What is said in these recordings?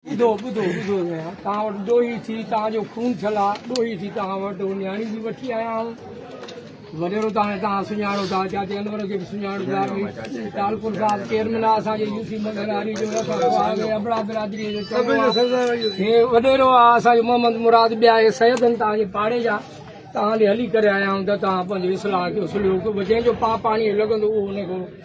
ٻڌو ٻڌو ٻڌو ڀيڻا توهان وٽ ڏوهي ٿي توهان جو خون ٿيل آ ڏوهي ٿي توهان وٽ نياڻي به وٺي آيا آهيون وڏيرو ته هاڻي توهان سڃاڻو ٿا چاچي انور کي به سڃاڻو ٿا ٽالپور صاحب چيئرمين آ اسان جي يو سي مندر هاري جو ابڙا برادري جو چيئرمين هي وڏيرو آ اسان جو محمد مراد ٻيا هي سيد آهن توهان جي پاڙي جا توهان ڏي هلي ڪري آيا آهيون ته توهان پنهنجي اصلاح ڪيو سليو ڪيو جنهن جو پاء پاڻي لڳندو اهو ان کي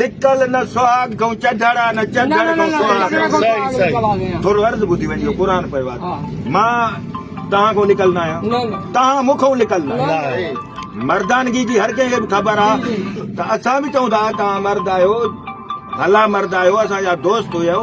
لڪل نه سهاڳ ڪئون چڍڙا نه چڍڙ ڪئون سهاڳ ٿورو عرض ٻڌي وڃجو قرآن پيو آهي مان توهان کان لڪل نه آهيان توهان مون کان لڪل نه آهيو مردانگي جي هر ڪنهن کي به خبر آهي ته اسان به چئون ٿا توهان مرد آهيو ڀلا مرد آهيو اسان جا دوست هيو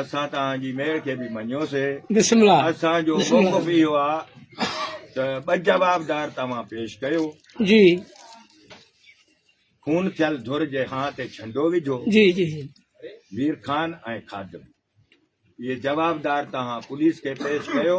اسان توهان جي مهر کي به مڃيوسي. اسان جو موقف اهو آ ته ٻه جوابدار توهان پيش ڪيو. خون ٿيل ڌر جي هان تي ڇنڊو وجهو. مير خان ۽ خادم اهي جوابدار توهان پوليس کي پيش ڪيو.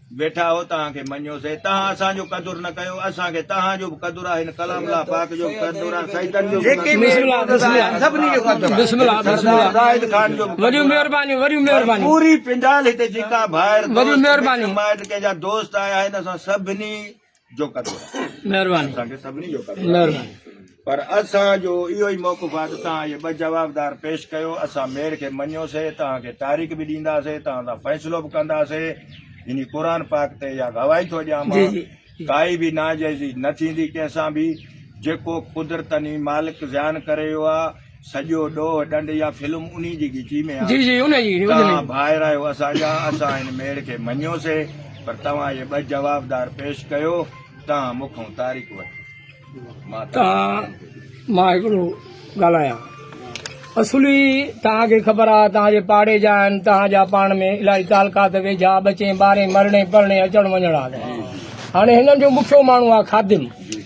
ويٺا هو توهان کي مڃيو سي توهان اسان جو قدر نه ڪيو اسان کي توهان جو به قدر آ هن ڪلام الله پاڪ جو به قدر آ سيدن جو به قدر پوري پنڊال هتي جيڪا ڀائر دوست مائٽ ڪنهن جا دوست آيا آهن اسان سڀني جو ڪندو رهان. مهرباني. اسان کي سڀني جو ڪندو رهان. مهرباني. پر اسان جو اهو ئي موقف آهي ته توهان اهي ٻه جوابدار پيش ڪيو، اسان ميڙ کي مڃيوسين، توهان کي تاريخ به ڏينداسين، توهان سان فيصلو به ڪنداسين، يعني قرآن پاڪ تي اها گواهي ٿو ڏيان مان، جي جي. ڪائي به ناجائزي نه ٿيندي ڪنهن سان به، جيڪو قدرتن ئي مالڪ زيان ڪري ويو آهي، سڄو ڏوهه ڏنڊ يا فلم انهي جي ڳچي ۾ آهي. توهان ڀائر آهيو اسان جا، اسان ان ميڙ کي مڃيو سي، پر توهان اهي ٻه جوابدار پيش ڪيو، توهان مون کان تاريخ وٺو. توهان مان هڪڙو ڳالهايان. اصولي توهان کي خبر آ، توهان جي پاڙي جا آهن، توهان جا پاڻ ۾ الاهي تعلقات ويجها، ٻچين ٻارين، مرڻي پرڻي، اچڻ وڃڻ آ. هاڻي هنن جو مکيو ماڻهو آ خادم.